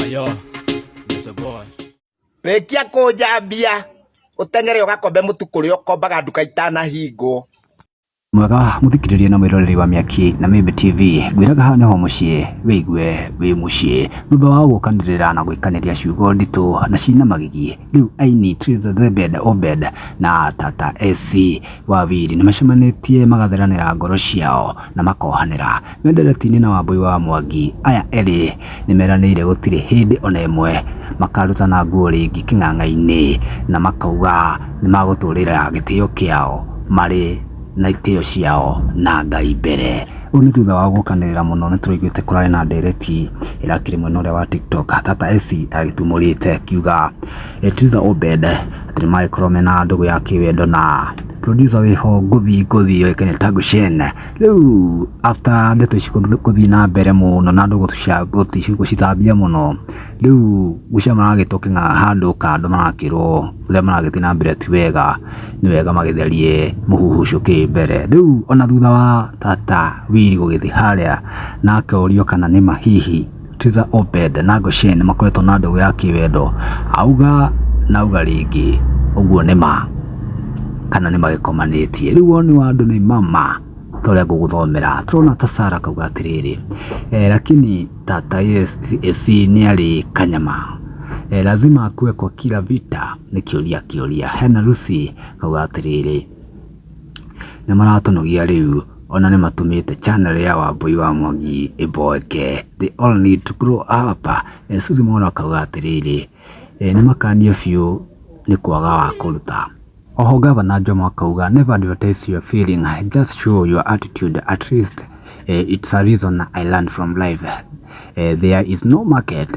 Ayo, Mr. Boy. Rekia kũnjambia ũteng'ere ũgakombe mũtu kũrĩa ũkombaga nduka itanahingwo Mwega muthikiriria na mwiroreri wa Miaki na Mimbi TV ngwiraga haha niho mucii wigue wi mucii thutha wa gukanirira na gwikaniria ciugo nditu na cina magigi riu aini Triza Zebed Obed na Tata AC Wawiri nimacemanitie magathiranira ngoro ciao na makohanira Me nderetinĩ na Wambũi wa Mwangi, aya erĩ nĩmeranĩire gũtirĩ hĩndĩ ona ĩmwe makarutana nguo rĩngĩ kĩng'ang'a-inĩ na makauga nĩmagũtũrĩra gĩtĩo kĩao marĩ na itĩo ciao na Ngai mbere. Ũũ nĩ thutha wao gũkanĩrĩra mũno nĩtũraiguĩte kũrarĩ na ndereti ĩrakĩrĩ mwena ũrĩa wa tiktok Tata Essie agĩtumũrĩte akiuga Letizah Obed atĩ nĩmagĩkorwo mena ndũgũ ya kĩwendo na producer wĩho ngũthi ngũthi yũĩkaine ta Gushen. rĩu after ndeto ici gũthiĩ na mbere mũno na andũ gũtũca- gũti- gũcithambia mũno rĩu gũcia maragĩtwo kĩna handũ kando marakĩrwo ũrĩa maragĩthiĩ na mbere ti wega nĩ wega magĩtherie mũhuhu ũcio ũkĩrĩ mbere rĩu ona thutha wa tata wili gũgĩthiĩ harĩa na akorio kana nĩma hihi Tiza Obed na Goshen nĩ makoretwo na ndũgũ ya kĩwendo. Auga na auga rĩngĩ ũguo nĩ ma kana nĩ magĩkomanĩtie. Rĩu woni wa andũ nĩ mama ta ũrĩa ngũgũthomera. Tũrona ta Sara akauga atĩrĩrĩ, eh, lakini tata esi nĩ arĩ kanyama eh, lazima akuwe kwa kila vita nĩ kĩũria kĩũria. Hena Lucy akauga atĩrĩrĩ, nĩmaratũnogia rĩu ona nĩmatũmĩte channel ya Wambũi wa Mwangi ĩmboeke. They all need to grow up. Eh, Suzi Mwaura akauga atĩrĩrĩ, eh, nĩmakanio biũ nĩ kwaga wa kũruta. Oho Gavana Jomo akauga never advertise your feeling, just show your attitude at least eh, it's a reason I learned from life. Eh, there is no market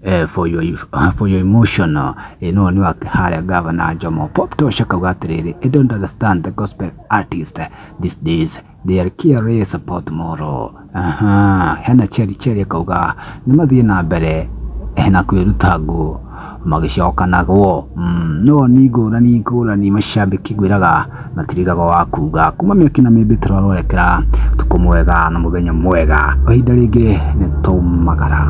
eh, for your, uh, for your emotional eh, no ni wake harĩa gavana njomo pop tosha kauga atĩrĩrĩ i don't understand the gospel artist these days they are careless about tomorrow aha hena cheri cheri akauga nĩ mathiĩ na mbere eh, na kwĩruta ngũ magĩcokanagwo mm, no ni ngũrani ngũrani macambĩki ngwĩraga na tirigaga wa kuga kuma mĩaki na mĩmbĩ tũrarorekera tukũ mwega na mũthenya mwega kwa ihinda rĩngĩ nĩ twaumagara